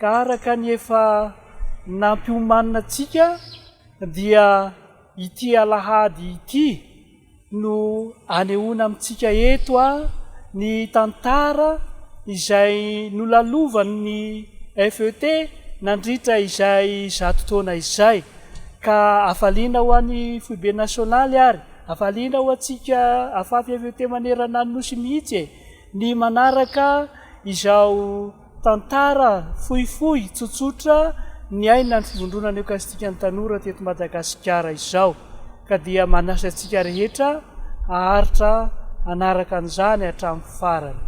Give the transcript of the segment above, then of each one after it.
Ka araka ny efa nampiomanina antsika dia ity alahady ity no anehoana amintsika eto ny tantara izay nolalovan'ny FET nandritra izay zato taona izay. Ka hafaliana ho an'ny Foibe Nasionaly ary hafaliana ho antsika Afafy FET manerana ny Nosy mihitsy e! ny manaraka izao Tantara fohifohy tsotsotra niainan'ny Fivondronana Eokaristikan'ny Tanora teto Madagasikara izao, ka dia manasa antsika rehetra haharitra hanaraka an'izany hatramin'ny farany.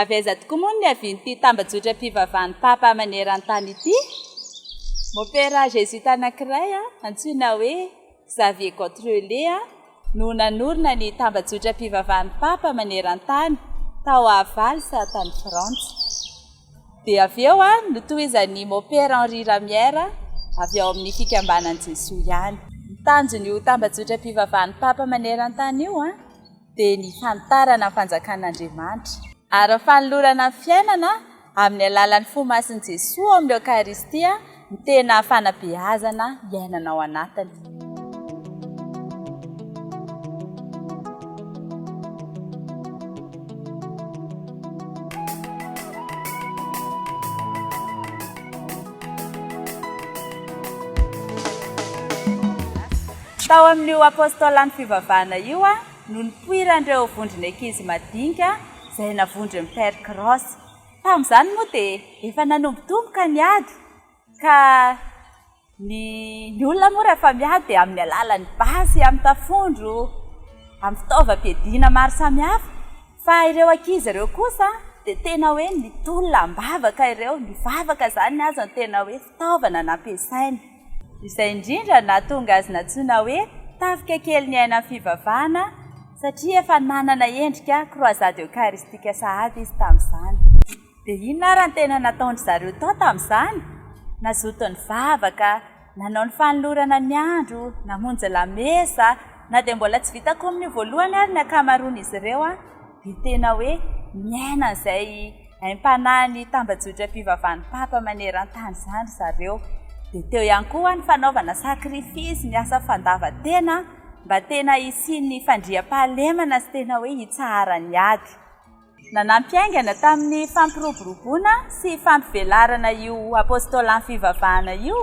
Avy aiza tokoa moa no niavian'ity tambajotram-pivavahan'ny Papa maneran-tany ity? Môpera Zezuita anankiray antsoina hoe Xavier Gautrellet no nanorina ny tambajotram-pivavahan'ny Papa maneran-tany tao Avals, tany Frantsa. Dia avy eo, notohizan'i Mopera Henri Ramier, avy ao amin'ny Fikambanan'i Jesoa ihany. Ny tanjon'io tambajotram-pivavahan'ny Papa maneran-tany io dia ny fanitarana ny Fanjakan'Andriamanitra, ary ny fanolorana ny fiainana amin'ny alalan'ny fo masin'i Jesoa ao amin'ny Eokaristia, ny tena fanabeazana iainana ao anatiny. Tao amin'io apôstôlan'ny fivavahana io no nipoiran'ireo vondron'ankizy madinika izay navondron'i Père Cross. Tamin'izany moa dia efa nanombotomboka ny ady ka ny ny olona moa rehefa miady dia amin'ny alalan'ny basy, amin'ny tafondro, amin'ny fitaovam-piadiana maro samihafa fa ireo ankizy ireo kosa dia tena hoe nitolona am-bavaka ireo, nivavaka izany ny azy no tena hoe. fitaovana nampiasainy. Izay indrindra nahatonga azy nantsoina hoe tafika kely ny aina ny fivavahana satria efa nanana endrika croisade eucharistique sahady izy tamin'izany. Dia inona ary ny tena nataon-dry zareo tao tamin'izany? Nazoto nivavaka, nanao ny fanolorana ny andro, namonjy lamesa, na dia mbola tsy vita kominio voalohany ary ny ankamaroan'izy ireo. dia tena hoe miaina an'izay aim-panahin'ny tambajotram-pivavahan'ny Papa maneran-tany izany ry zareo. Dia teo ihany koa ny fanaovana sacrifice, ny asa fandavan-tena mba tena hisian'ny fandriampahalemana sy tena hoe hitsaharan'ny ady. Nanampy haingana tamin'ny fampiroboroboana sy fampivelarana io Apôstôlan'ny fivavahana io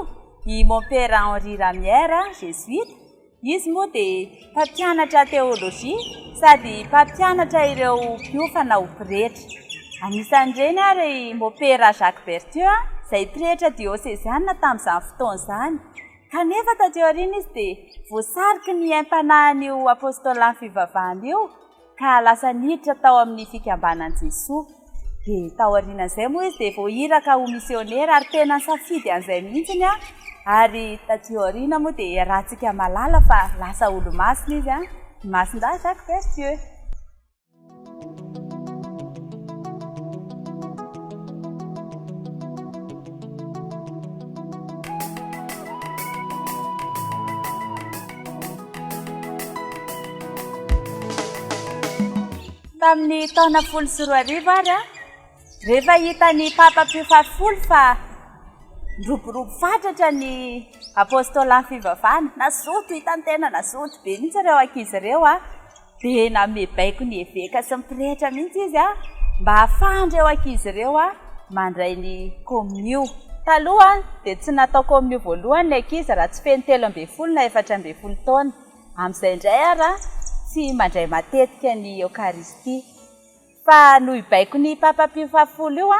i Mompera Henri Ramier, Jesuita, Izy moa dia mpampianatra teolojia sady mpampianatra ireo mpiofana ho pretra. Anisan'ireny ary i Mopera Jacques Berthieu, izay pretra dioseziana tamin'izany fotoana izany. Kanefa taty aoriana izy dia voasariky ny aim-panahin'io apôstôlan'ny fivavahana io, ka lasa niditra tao amin'ny fikambanan'i Jesoa. Dia tao aorianan'izay moa izy dia vao iraka ho misionera ary tena nisafidy an'izay mihitsy ny ahy ary taty aoriana moa dia iarahantsika malala fa lasa olomasina izy an, Masindahy Jacques Berthieu. Tamin'ny taona folo sy roa arivo ary an, rehefa hitan'ny Papa Pio fahafolo fa niroborobo fatratra ny apôstôlan'ny fivavahana, nazoto, hitan'ny tena nazoto be mihitsy ireo ankizy ireo an, Dia nanome baiko ny eveka sy ny pretra mihitsy izy mba hahafahan'ireo ankizy ireo mandray ny komonio. Taloha dia tsy natao komonio voalohany ny ankizy raha tsy feno telo ambin'ny folo na efatra ambin'ny folo taona. Amin'izay indray ary tsy mandray matetika ny Eokaristia. Fa noho io baikon'ny Papa Pio fahafolo io,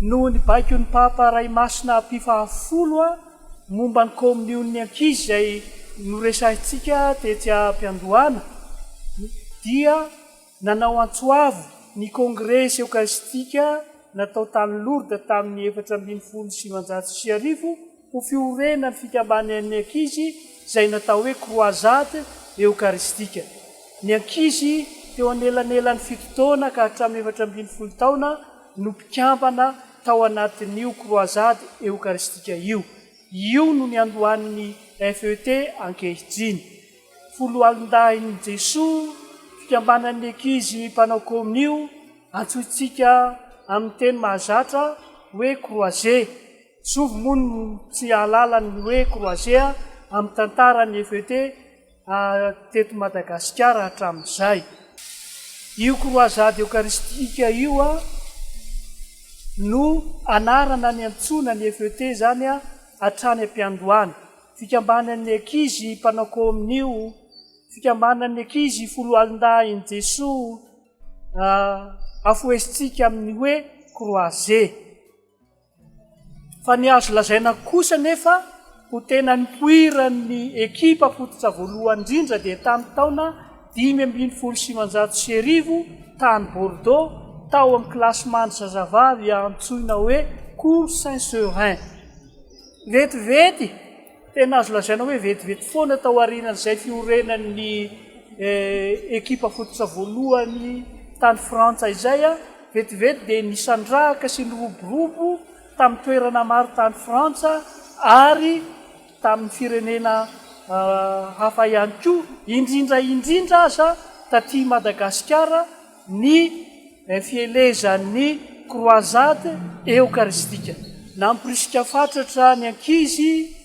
Noho ny baikon'ny Papa Ray Masina Pio Fahafolo momba ny kaomion'ny ankizy izay noresahintsika tetsy am-piandohana, dia nanao antso avo ny Kongresy Eokaristika natao tany Lourdes tamin'ny efatra ambin'ny folo sy sivinjato sy arivo, Ho fiorenana ny fikambanan'ny ankizy izay natao hoe Croisade Eokaristika. Ny ankizy teo anelanelan'ny fito taona ka hatramin'ny efatra ambin'ny folo taona no mpikambana tao anatin'io Croisade Eokaristika io. Io no niandohan'ny FET ankehitriny. Foloalindahin'i Jesoa, fikambanan'ny ankizy mpanao komonio, antsointsika amin'ny teny mahazatra hoe Croisée. Zovy moa no tsy hahalala ny hoe Croisea amin'ny tantaran'ny FET teto Madagasikara hatramin'izay. Io Croisade Eucharistique io no anarana niantsoana ny FET izany hatrany am-piandohana. Fikambanan'ny ankizy mpanao kominio, Fikambanan'ny ankizy Foloalindahin'i Jesoa, afohesintsika amin'ny hoe Croisea. Fa ny azo lazaina kosa anefa ho tena nipoiran'ny ekipa fototra voalohany indrindra dia tamin'ny taona dimy ambin'ny folo sy sivinjato sy arivo tany Bordeaux tao amin'ny classement-n'ny zazavavy antsoina hoe Cours Saint-Seurin. Vetivety! Tena azo lazaina hoe vetivety foana tao aorianan'izay fiorenan'ny ekipa fototra voalohany tany Frantsa izay, vetivety dia nisandrahaka sy niroborobo tamin'ny toerana maro tany Frantsa ary tamin'ny firenena hafa ihany koa, indrindra indrindra aza taty Madagasikara. ny fielezan'ny Croisade Eokaristika. Namporisika fatratra ny ankizy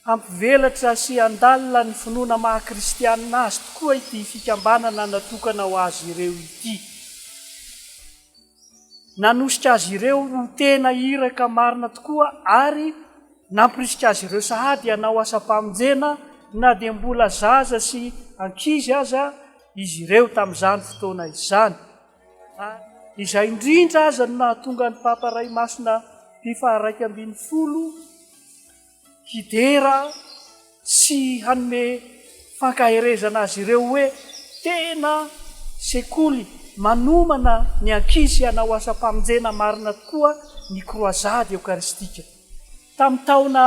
hampivelatra sy handalina ny finoana maha Kristianina azy tokoa ity fikambanana natokana ho azy ireo ity. Nanosika azy ireo ho tena iraka marina tokoa ary namporisika azy ireo sahady hanao asam-pamonjena na dia mbola zaza sy ankizy aza, izy ireo tamin'izany fotoana izany, ary izay indrindra aza no nahatonga ny Papa Ray Masina Pio faharaika ambin'ny folo hidera sy hanome fankaherezana azy ireo hoe tena sekoly manomana ny ankizy hanao asam-pamonjena marina tokoa ny Kroazady Eokaristika. Tamin'ny taona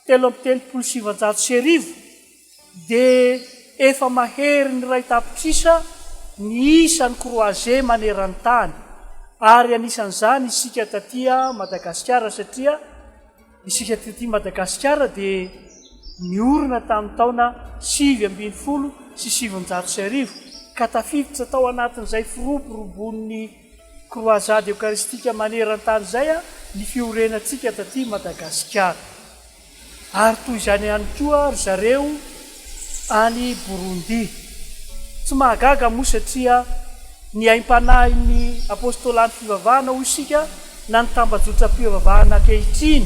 telo amby telopolo sy sivanjato sy arivo, Dia efa mahery ny iray tapitrisa ny isan'ny croisés maneran-tany ary anisan'izany isika taty Madagasikara satria isika taty Madagasikara dia niorina tamin'ny taona sivy ambin'ny folo sy sivinjato sy arivo ka tafiditra tao anatin'izay firoboroboan'ny croisade eucharistique maneran-tany izay ny fiorenantsika taty Madagasikara. Ary toy izany ihany koa ry zareo any Burundi. Tsy mahagaga moa satria ny aim-panahin'ny Apôstôlan'ny fivavahana hoy isika na ny tambajotram-pivavahana ankehitriny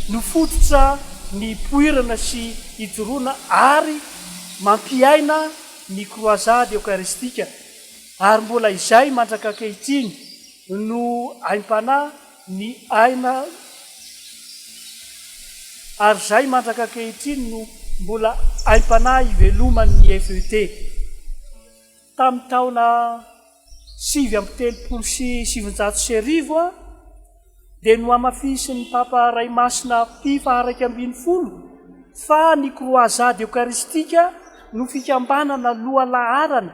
no fototra nipoirana sy ijoroana ary mampiaina ny Kroazady Eokaristika ary mbola izay mandrak'ankehitriny no aim-panahy ny aina ary izay mandraka ankehitriny no mbola aim-panahy iveloman'ny FET. Tamin'ny taona sivy amby telopolo sy sivinjato sy arivo dia nohamafisin'ny Papa Ray Masina Pie faharaika ambin'ny folo fa ny Croisade Eucharistique no fikambanana lohalaharana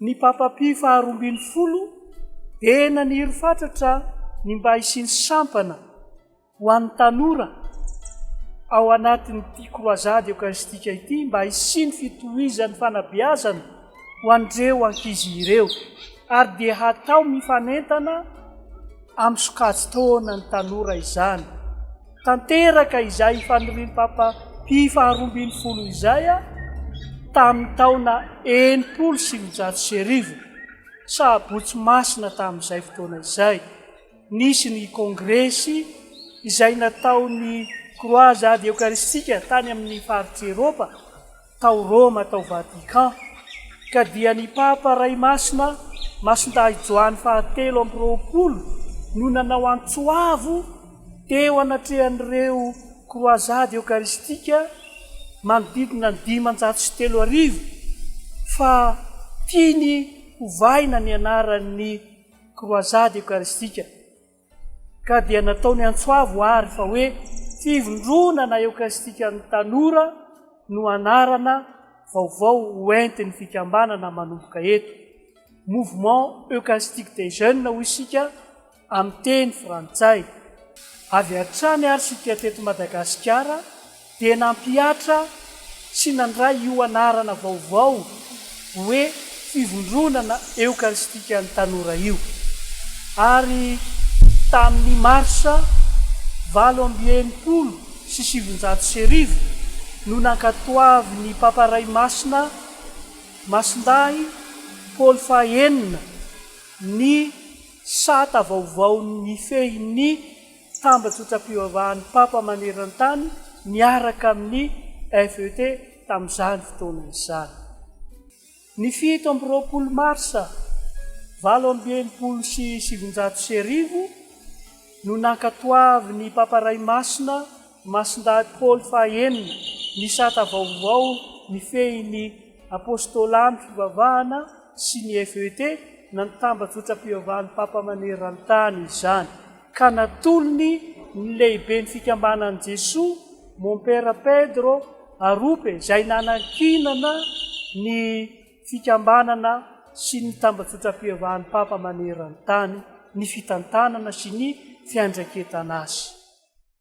Ny Papa Pio faharoa ambin'ny folo dia naniry fatratra ny mba hisian'ny sampana ho an'ny tanora ao anatin'ity kroazady eokaristika ity mba hisian'ny fitohizan'ny fanabeazana ho an'ireo ankizy ireo ary dia hatao mifanentana amin'ny sokajin-taona ny tanora izany. Tanteraka izay ifanirian'i Papa Pio faharoa ambin'ny folo izay tamin'ny taona enimpolo sy eninjato sy arivo, Sabotsy Masina tamin'izay fotoana izay. Nisy ny kongresy izay nataon'ny Croisade Eokaristika tany amin'ny faritr'i Eropa, tao Roma tao Vatican, ka dia ny Papa Ray Masina Masindahy Joany faha telo amby roapolo no nanao antso avo teo anatrehan'ireo Kroazady Eokaristika manodidina ny dimanjato sy telo arivo fa tiany hovahina ny anaran'ny Kroazady Eokaristika. Ka dia nataony antsoavo àry fa hoe Fivondronana Eokaristikan'ny Tanora no anarana vaovao hoentin'ny fikambanana manomboka eto, Mouvement Eucharistique des Jeunes hoy isika amin'ny teny frantsay. Avy hatrany àry isika teto Madagasikara, dia nampihatra sy nandray io anarana vaovao hoe Fivondronana Eokaristikan'ny Tanora io, ary tamin'ny Marsa valo amby enimpolo sy sivinjato sy arivo no nankatoavin'ny Papa Ray Masina Masindahy Paoly faha enina ny sata vaovaon'ny mifehy ny Tambajotram-pivavahan'ny Papa maneran-tany niaraka amin'ny FET tamin'izany fotoana izany. Ny fito amby roapolo marsa valo amby enimpolo sy sivinjato sy arivo no nankatoavin'ny Papa Ray Masina Masindahy Paoly fahaenina ny sata vaovao mifehy ny Apôstôlan'ny fivavahana sy ny FET na ny Tambajotram-pivavahan'ny Papa maneran-tany izany. ka natolony ny lehiben'ny fikambanan'i Jesoa, Mompera Pedro Arupe, izay nanankinana ny fikambanana sy ny tambajotram-piavahan'ny Papa maneran-tany ny fitantanana sy ny fiandraiketana azy.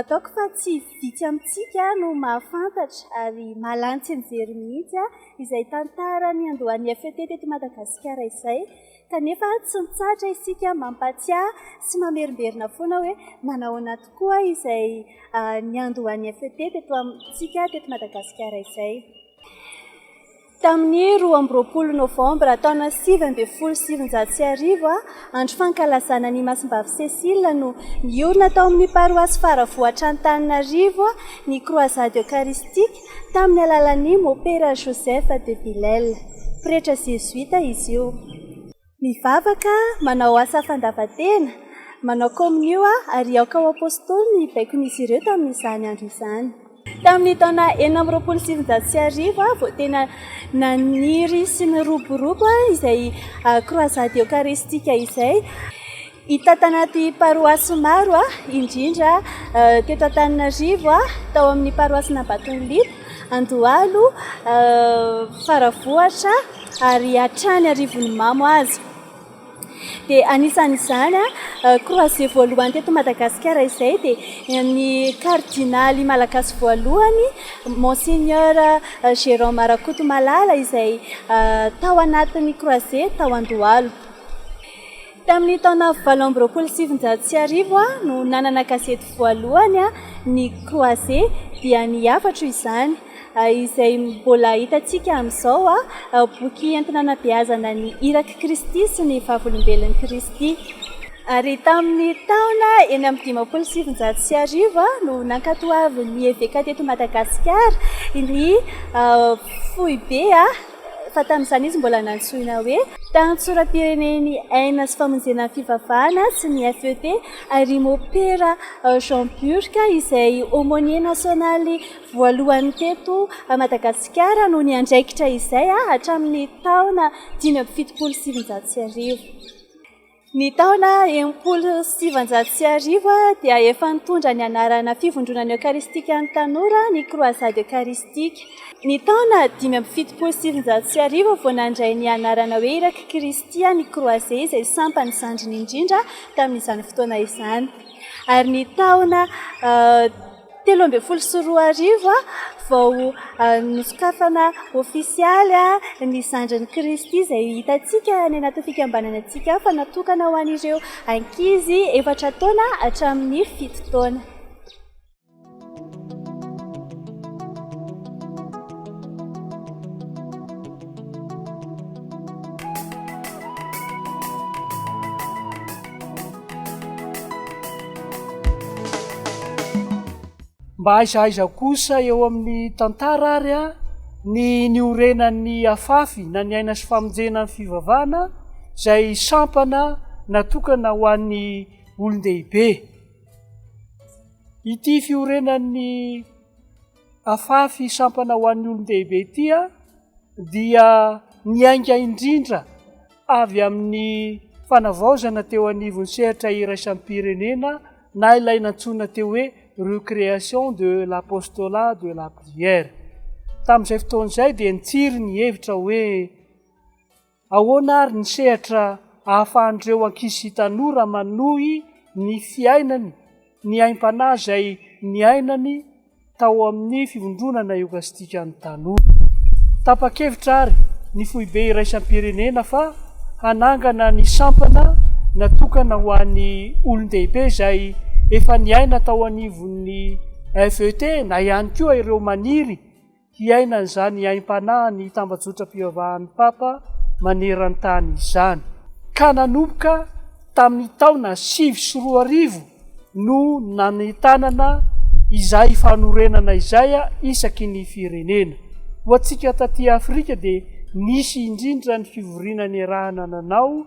Ataoko fa tsy vitsy amintsika no mahafantatra ary mahalantsy nijery mihitsy izay tantara niandohan'ny FET teto Madagasikara izay, kanefa tsy mitsahatra isika mampatsiahy sy mamerimberina foana hoe manahoana tokoa izay niandohan'ny FET teto amintsika teto Madagasikara izay. Tamin'ny roa amby roapolo Novambra taona sivy ambin'ny folo sy sivinjato sy arivo, andro fankalazana ny Masimbavy Cécile, no niorina tao amin'ny paroasy Faravohitr'Antananarivo ny Croisade Eucharistique tamin'ny alalan'ny Mopera Joseph de Bilel. Pretra zezoita izy io. Mivavaka, manao asa fandavan-tena, manao komonio aho ary aoka ho apostoly ny baikon'izy ireo tamin'izany andro izany. Tamin'ny taona enina amby roapolo sy sivinjato sy arivo aho vao tena naniry sy niroborobo izay croisade eucharistique izay. Hita tanaty paroasy maro, indrindra teto Antananarivo, tao amin'ny paroasin'Ambatondriaka, Andohalo, Faravohitra ary hatrany Arivonimamo aza. Dia anisan'izany, croisés voalohany teto Madagasikara izay dia ny kardinaly malagasy voalohany, Monseigneur Jérôme Rakotomalala izay tao anatin'ny croisés tao Andohalo. Tamin'ny taona valo amby roapolo sy sivinjato sy arivo no nanana gazety voalohany ny Croisés, dia ny hafatro izany, izay mbola hitantsika amin'izao, boky entina anabeazana ny irak'i Kristy sy ny Vavolombelon'i Kristy. Ary tamin'ny taona enina amby dimampolo sy sivinjato sy arivo no nankatoavin'ny eveka teto Madagasikara ny foibe. fa tamin'izany izy mbola nantsoina hoe. Tany Tsoram-pirenen'i Aina sy Famonjena ny Fivavahana sy ny FEP ary Môpera Jean Burck izay Aumônier Nasionaly voalohany teto Madagasikara no niandraikitra izay hatramin'ny taona dimy amby fitopolo sy sivinjato sy arivo. Ny taona enimpolo sy sivinjato sy arivo dia efa nitondra ny anarana Fivondronana Eokaristikan'ny Tanora ny Croisade Eucharistique. Ny taona dimy amby fitopolo sy sivinjato sy arivo vao nandray ny anarana hoe Irak'i Kristy ny Croisés izay sampana zandriny indrindra tamin'izany fotoana izany ary ny taona Telo ambin'ny folo sy roa arivo vao nosokafana ofisialy ny zandrin'i Kristy izay hitantsika any anaty fikambanana antsika fa natokana ho an'ireo ankizy efatra taona hatramin'ny fito taona. Mba aiza aiza kosa eo amin'ny tantara ary a, ny niorenan'ny afafy na ny aina sy famonjena ny fivavahana izay sampana natokana ho an'ny olon-dehibe. Ity fiorenan'ny afafy sampana ho an'ny olon-dehibe ity dia niainga indrindra avy amin'ny fanavaozana teo anivon'ny sehatra iraisam-pirenena na ilay nantsoina teo hoe recréation de l'apostolat de la prière. Tamin'izay fotoana izay dia nitsiry ny hevitra hoe Ahoana àry ny sehatra ahafahan'ireo ankizy tanora manohy ny fiainany ny aim-panahy izay niainany tao amin'ny Fivondronana Eokastikan'ny Tanora? Tapa-kevitra àry ny Foibe Iraisam-pirenena fa hanangana ny sampana natokana ho an'ny olon-dehibe izay efa niaina tao anivon'ny FET na ihany koa ireo maniry hiaina an'izany aim-panahin'ny tambajotram-pivavahan'ny Papa maneran-tany izany. Ka nanomboka tamin'ny taona sivy sy roa arivo no nanentanana izay fanorenana izay isaky ny firenena. Ho antsika taty Afrika dia nisy indrindra ny fivoriana niarahana nanao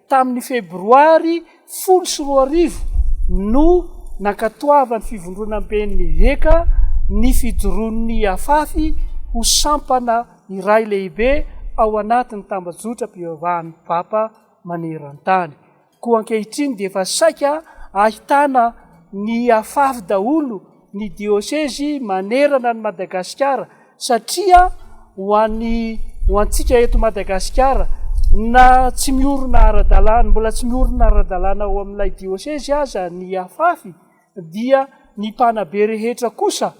Tamin'ny Febroary folo sy roa arivo no nankatoavan'ny Fivondronamben'ny Heca ny fijoroan'ny Afafy ho sampana iray lehibe ao anatin'ny tambajotram-pivavahan'ny Papa maneran-tany. Koa ankehitriny dia efa saika ahitana ny Afafy daholo ny diosezy manerana an'i Madagasikara satria ho an'ny ho antsika eto Madagasikara na tsy miorina ara-dalàna mbola tsy miorina ara-dalàna ao amin'ilay diosezy aza ny afafy dia ny mpanabe rehetra kosa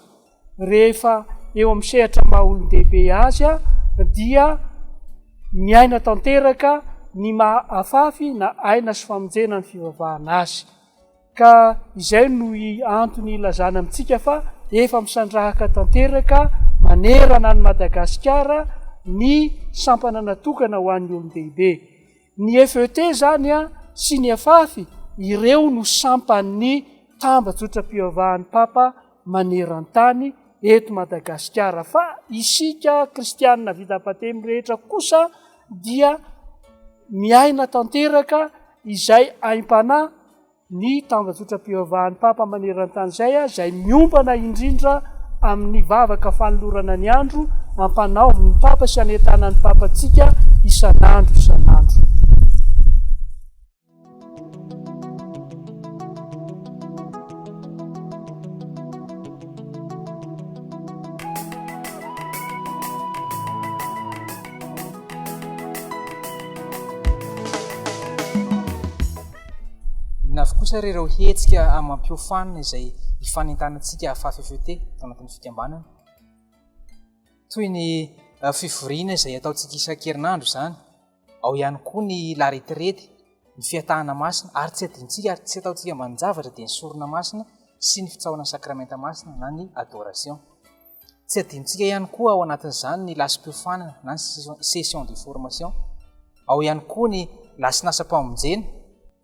rehefa eo amin'ny sehatra maha-olon-dehibe azy dia miaina tanteraka ny maha afafy na aina sy famonjena ny fivavahana azy. Ka izay no antony ilazana amintsika fa efa misandrahaka tanteraka manerana an'i Madagasikara ny sampana natokana ho an'ny olon-dehibe. Ny FET izany sy ny FAF, ireo no sampan'ny tambajotram-pivavahan'ny Papa maneran-tany eto Madagasikara. Fa isika kristianina vita batemy rehetra kosa dia miaina tanteraka izay aim-panahy ny tambajotram-pivavahan'ny Papa maneran-tany izay, izay miompana indrindra amin'ny vavaka fanolorana ny andro ampanaovin'ny Papa sy anentanan'ny Papa antsika isan'andro isan'andro. Inona avy kosa ary ireo hetsika amam-piofanana izay ifanentanantsika fahafefeote tao anatin'ny fikambanana? Toy ny eh, fivoriana izay ataontsika isan-kerinandro izany, ao ihany koa ny laretirety, ny fiatahana masina, ary tsy adintsika ary tsy ataontsika ambanin-javatra dia ny sorona masina sy ny fitsaoran'ny sakramenta masina na ny adoration. Tsy adinontsika ihany koa ao anatin'izany ny lasim-piofanana na ny session de formation. Ao ihany koa ny lasin'asam-pamonjena,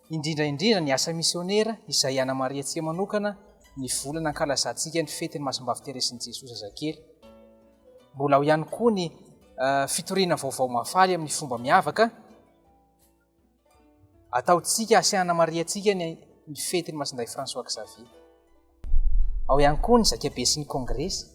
indrindra indrindra ny asa misionera izay hanamarihantsika manokana ny volana hankalazantsika ny fetin'ny Masombavi Terezin'i Jesoa Zazakely. Mbola ao ihany koa ny fitoriana vaovao mahafaly amin'ny fomba miavaka. Ataontsika sy hanamarihantsika ny ny fetin'i Masindahy François Xavier. Ao ihany koa ny zakabe sy ny kongresy.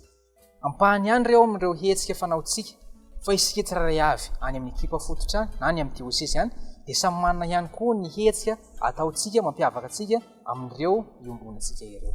Ampahany ihany ireo amin'ireo hetsika fanaontsika fa isika tsirairay avy any amin'ny ekipa fototra na ny amin'ny diosesy any dia samy manana ihany koa ny hetsika ataontsika mampiavaka antsika amin'ireo iombonantsika ireo.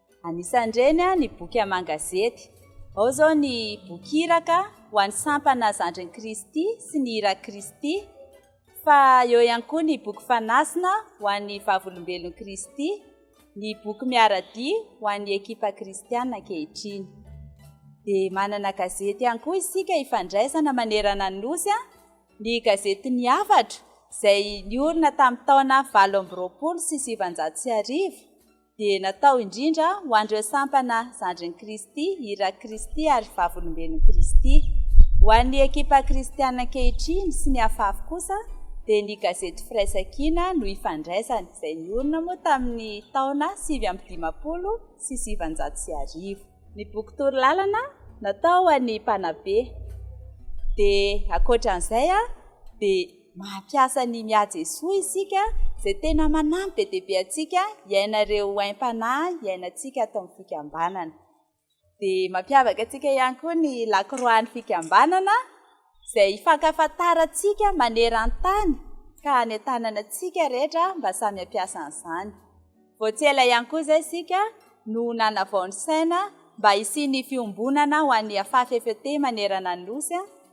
Anisan'ireny ny boky aman-gazety. Ao izao ny boky iraka ho an'ny sampana Zandrin'i Kristy sy ny Irak'i Kristy, fa eo ihany koa ny boky fanasina ho an'ny Vavolombelon'i Kristy, ny boky miara-dia ho an'ny ekipa kristiana ankehitriny. Dia manana gazety ihany koa isika ifandraisana manerana ny Nosy, ny gazetin'ny Hafatra, izay niorina tamin'ny taona valo amby roapolo sy sivinjato sy arivo. dia natao indrindra ho an'ireo sampana zandrin'i Kristy, irak'i Kristy ary vavolombelon'i Kristy. Ho an'ny ekipa kristiana ankehitriny sy ny afafy kosa dia ny gazety Firaisankina no ifandraisany, izay niorina moa tamin'ny taona sivy amby dimampolo sy sivinjato sy arivo. Ny boky Torolalana natao ho an'ny mpanabe dia ankoatra an'izay dia. Mampiasa ny Mià Jesoa isika izay tena manampy be dia be antsika hiaina ireo aim-panahy iainantsika ato amin'ny fikambanana. Dia mampiavaka antsika ihany koa ny lakroan'ny fikambanana izay hifankafantarantsika maneran-tany ka hanentanana antsika rehetra mba samy hampiasa an'izany. Vao tsy ela ihany koa izay isika no nanavao ny saina mba hisian'ny fiombonana ho an'ny Afafff manerana ny Nosy.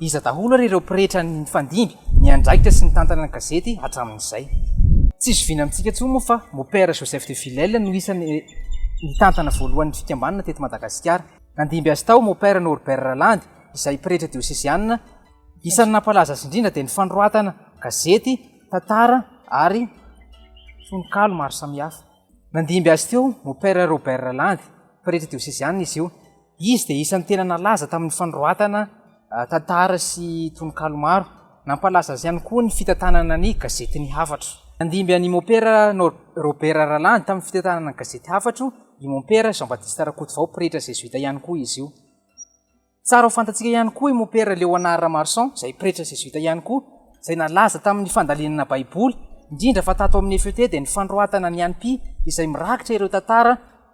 Iza daholo ary ireo pretra nifandimby, niandraikitra sy nitantana ny gazety hatramin'izay? Tsy zoviana amintsika intsony moa fa Mopera Joseph de Filel no isan'ny nitantana voalohany ny fikambanana teto Madagasikara. Nandimby azy tao Mopera Norbert Ralandy, izay pretra diosezianina. Isan'ny nampalaza azy indrindra dia ny fanoratana gazety, tantara ary tononkalo maro samihafa. Nandimby azy teo Mopera Robert Ralandy, pretra diosezianina izy io. Izy dia isan'ny tena nalaza tamin'ny fanoratana tantara sy tononkalo maro. Nampalaza azy ihany koa ny fitantanana ny gazety Ny Hafatro. Nandimby an'i Mompera Robert Ralandy tamin'ny fitantanana ny gazety Hafatro i Mompera Jean Baptiste Rakotovao, pretra zezoita ihany koa izy io. Tsara ho fantatsika ihany koa i Mompera Léonard Ramarson, izay pretra zezoita ihany koa, izay nalaza tamin'ny fandalinana Baiboly, indrindra fa tato amin'ny FET dia ny fanoratana ny anpi izay mirakitra ireo tantara,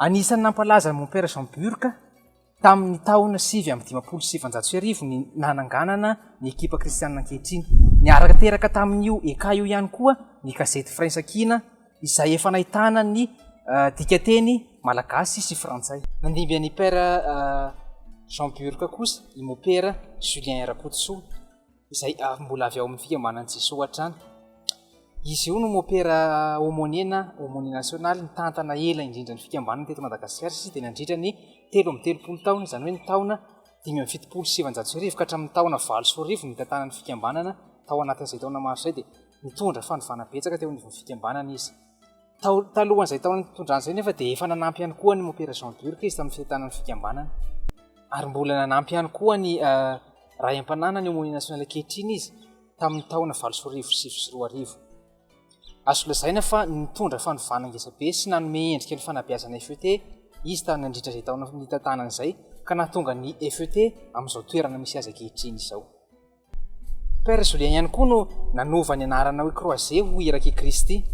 Anisan'ny nampalaza an'i Mompera Jean Burka tamin'ny taona sivy amby dimampolo sy sivinjato sy arivo ny nananganana ny ekipa kristianina ankehitriny. Niaraka teraka tamin'io ECA io ihany koa ny gazety Firaisankina izay efa nahitana ny dikanteny malagasy sy frantsay. Nandimby an'i Père Jean Burka kosa i Mompera Julien Rakotosoa. izay mbola avy ao amin'ny fikambanan'i Jesoa hatrany. Izy io no mopera homoniena, homonie nasionaly, nitantana ela indrindra ny fikambanana teto Madagasikara, satria dia nandritra ny telo amby telopolo taona, izany hoe ny taona dimy amby fitopolo sy sivanjato sy arivo ka hatramin'ny taona valo sy roa arivo ny nitantanana ny fikambanana, tao anatin'izay taona maro izay dia nitondra fanovana betsaka teo anivon'ny fikambanana izy. Talohan'izay taona nitondrany izay nefa dia efa nanampy ihany koa ny Mompera Jean Burck izy tamin'ny fitantanan'ny fikambanana. Ary mbola nanampy ihany koa ny uh, ray am-pananany eo amin'ny nasionaly ankehitriny izy tamin'ny taona valo sy arivo sy sivy sy roa arivo. Azo lazaina fa nitondra fanovana ngezabe sy nanome endrika ny fanabeazana FET izy tany nandritra izay taona nitantanana izay ka nahatonga ny FET amin'izao toerana misy azy ankehitriny izao. Père Julien ihany koa no nanova ny anarana hoe Croisé ho Irak' i Kristy.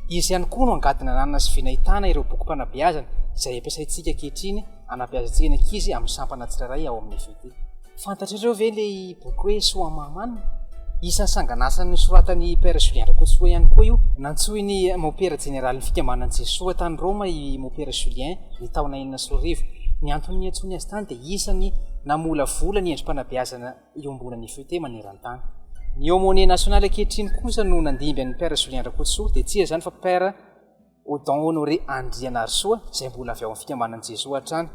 Izy ihany koa no angady nananana sy vinahitana ireo bokim-panabeazana izay ampiasaintsika ankehitriny anabeazantsika ny ankizy amin'ny sampana tsirairay ao amin'ny FET. Fantatrareo ve ilay boky hoe Soa Mahaman? Isan'ny sanganasa nosoratan'i Père Julien Rakotsoa ihany koa io. Nantsoin'ny Mopera Jeneralin'ny Fikambanan'i Jesoa tany Roma i Mopera Julien ny taona enina sy roa arivo. Ny antony niantsoany azy tany dia isan'ny namolavola ny endri-panabeazana. fanabeazana iombonan'ny FET maneran-tany. Ny aumônier national ankehitriny kosa no nandimby an'ny Père Julien Rakotosoa, dia tsy iza izany fa Père Odon Honoré Andrianarisoa, izay mbola avy ao amin'ny fikambanan'i Jesoa hatrany.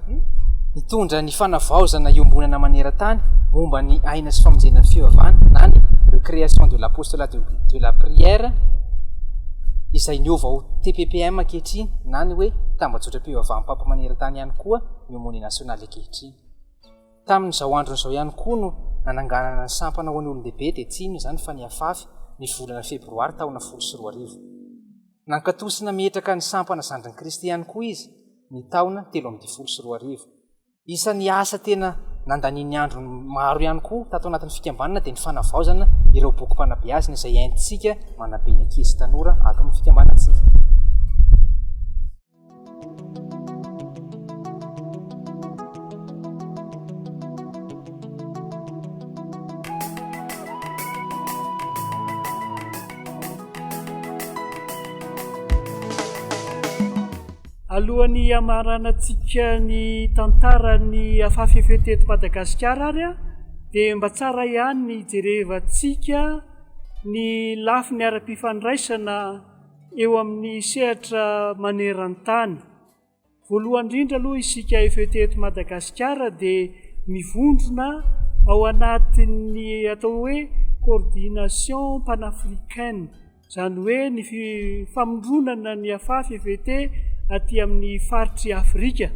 Nitondra ny fanavaozana iombonana maneran-tany momba ny aina sy famonjena ny fivavahana na ny de création de l'apostolat de la prière izay niova ho TPPM ankehitriny na ny hoe tambajotram-pivavaham-papa maneran-tany ihany koa ny aumônier national ankehitriny. Tamin'izao androny izao ihany koa no nananganana ny sampana ho an'ny olon-dehibe dia tsy inona izany fa ny Afafy ny volana febroary taona folo sy roa arivo. Nankatoa sy nametraka ny sampana Zandrin'i Kristy ihany koa izy ny taona telo ambin'ny folo sy roa arivo. Isan'ny asa tena nandaniany androny maro ihany koa tato anatin'ny fikambanana dia ny fanavaozana ireo bokim-panabeazana izay entintsika manabe ny ankizy sy tanora ato amin'ny fikambanantsika. alohan'ny hamaranantsika ny tantaran'ny afafefe teto madagasikara ary a dia mba tsara ihany ny jerevantsika ny lafi ny ara-pifandraisana eo amin'ny sehatra maneran-tany. Voalohany indrindra aloha isika FET eto Madagasikara dia mivondrona ao anatin'ny atao hoe coordination panafricaine, izany hoe ny famondronana ny afafy FET aty amin'ny faritry Afrika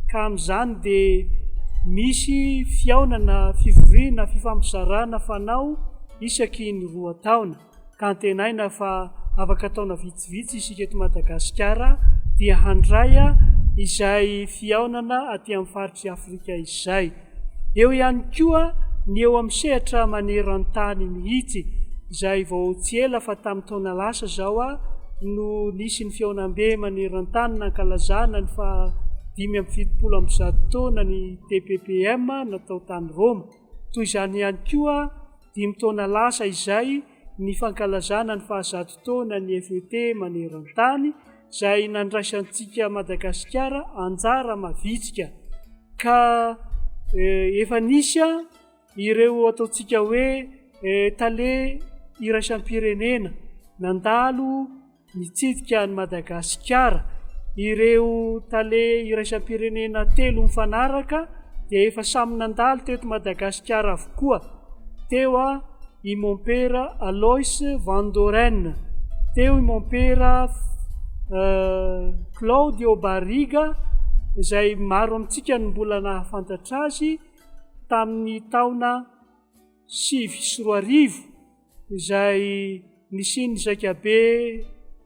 ka amin'izany dia misy fihaonana fivoriana fifampizarana fanao isaky ny roa taona. ka antenaina fa afaka taona vitsivitsy isika eto Madagasikara dia handray izay fihaonana aty amin'ny faritry Afrika izay. Eo ihany koa ny eo amin'ny sehatra maneran-tany mihitsy izay vao tsy ela fa tamin'ny taona lasa izao a no nisy ny fihaonambe maneran-tany nankalazana ny fa dimy amby fitopolo amby zato taona ny TPPM natao tany Roma. Toy izany ihany koa, dimy taona lasa izay ny fankalazana ny fahazato taonan'ny FET maneran-tany izay nandraisantsika Madagasikara anjara mavitrika ka efa nisy ireo ataontsika hoe tale iraisam-pirenena nandalo Nitsidika an'i Madagasikara ireo tale iraisam-pirenena telo mifanaraka dia efa samy nandalo teto Madagasikara avokoa. Teo i Mompera Alois Van Doren, teo i Mompera Claudio Barriga izay maro amintsika no mbola nahafantatra azy tamin'ny taona sivy sy roa arivo. izay nisian'ny zaikabe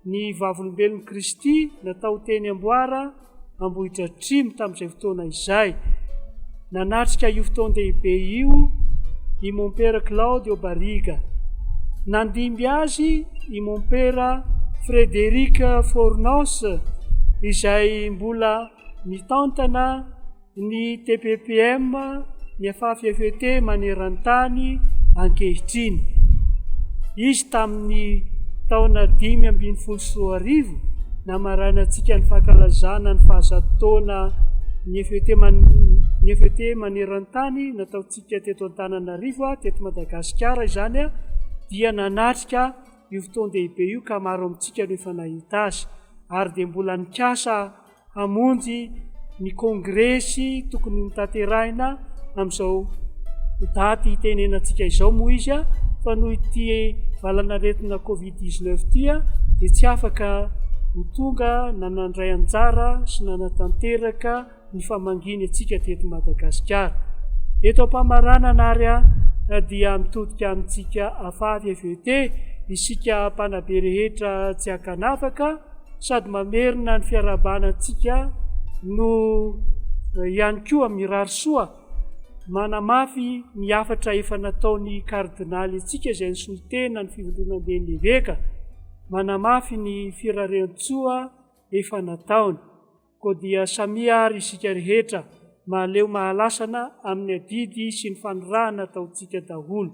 ny vavolombelon'i Kristy natao teny Amboara Ambohidratrimo tamin'izay fotoana izay. Nanatrika io fotoan-dehibe io i Mompera Claudio Barriga. Nandimby azy i Mompera Frederic Fornos izay mbola mitantana Ny TPPM mifaftt maneran-tany ankehitriny. Izy tamin'ny taona dimy ambin'ny folo sy roa arivo, namarainantsika ny fankalazana ny fahazato taona ny FET man ny FET maneran-tany nataontsika teto Antananarivo teto Madagasikara izany a dia nanatrika io fotoan-dehibe io ka maro amintsika no efa nahita azy ary dia mbola nikasa hamonjy ny kongresy tokony hotanterahina amin'izao daty hitenenantsika izao moa izy fa noho ity valanaretina covid 19 ity dia tsy afaka ho tonga nanandray anjara sy nanatanteraka ny famanginy atsika teto Madagasikara. Eto am-pamaranana ary dia mitodika amintsika afavy FET isika mpanabe rehetra tsy akanafaka sady mamerina ny fiarahabana antsika no eh, ihany koa amin'ny rary soa manamafy ny hafatra efa nataon'ny kardinaly antsika izay ny solotena ny fivondronamben'ny eveka manamafy ny firarentsoa efa nataony koa dia samia ary isika rehetra mahaleo mahalasana amin'ny adidy sy ny fanirahana ataontsika daholo